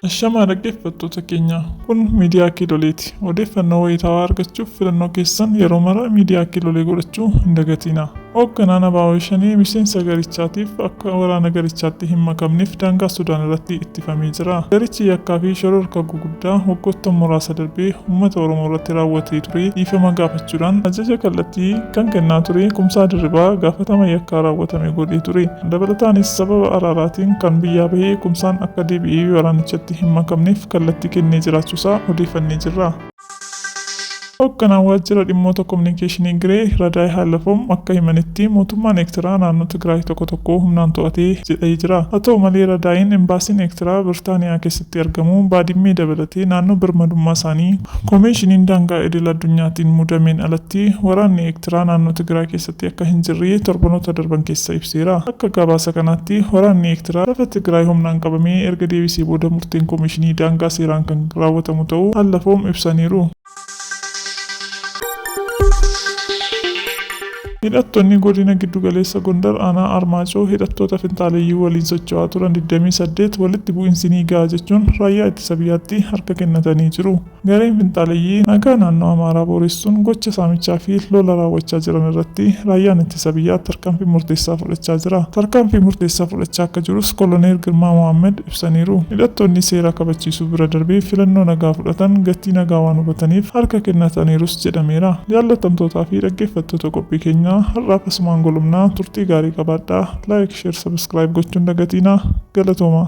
Ashamaa dhaggeeffattoota keenya kun miidiyaa kiiloleeti. Odeeffannoo wayitaawaa argachuuf filannoo keessan yeroo mara miidiyaa kiilolee godhachuu hin dagatiina. Hoogganaan Abaawoo Shanee miseensa garichaatiif akka waraana garichaatti hin makamneef daangaa Sudaan irratti tifamee jira. Garichi yakkaa fi shororkaa gurguddaa waggoottan muraasa darbe ummata Oromoo irratti raawwatee ture dhiifama gaafachuudhaan ajaja kallattii kan kennaa ture Kumsaa Dirribaa gaafatama yakkaa raawwatame godhee ture. Dabalataanis sababa araaraatiin kan biyyaa bahe Kumsaan akka deebi'ee waraanichatti hin makamneef kallattii kennee jiraachuusaa odeeffannee jirra. Hogganaan Waajjira Dhimmoota Kominikeeshinii Giree, Radaay Haalafom akka himanitti, mootummaan Eektiraa naannoo Tigraay tokko tokko humnaan to'ate jedhai jira. Haa ta'u malee Radaayiin Embaasiin Eektiraa Birtaaniyaa keessatti argamu Baadimmee dabalatee naannoo birmadummaa isaanii Komeeshiniin Daangaa Idil Addunyaatiin mudameen alatti waraanni Eektiraa naannoo Tigraay keessatti Tti akka hin jirre torbanoota darban keessa ibseera. Akka gabaasa kanaatti, waraanni Eertiraa lafa Tigraay humnaan qabamee erga deebisee booda murteen Komiishinii daangaa seeraan kan raawwatamu ta'uu Allafoom ibsaniiru. Hidhattonni Godina Giddugaleessa Gondar Aanaa Armaacoo hidhattoota finxaaleyyii waliin socho'aa turan digdamii saddeet walitti bu'insi ni ga'a jechuun Raayyaa Ittisa Biyyaatti harka kennatanii jiru. Gareen finxaaleyyii nagaa naannoo Amaaraa booressuun gocha saamichaa fi lola raawwachaa jiran irratti Raayyaan Ittisa Biyyaa tarkaanfii murteessaa fudhachaa jira. Tarkaanfii murteessaa fudhachaa akka jirus Koloneel Girmaa Mohaammed ibsaniiru. Hidhattoonni seera kabachiisuu bira darbee filannoo nagaa fudhatan gatii nagaa waan hubataniif harka kennataniirus jedhameera. Jaallatamtootaa fi dhaggeeffattoota qophii keenyaa har'aaf asumaan golobna. Turtii gaarii qabaadhaa. Like, Share, Subscribe gochuu hin dagatiinaa. Galatoomaa!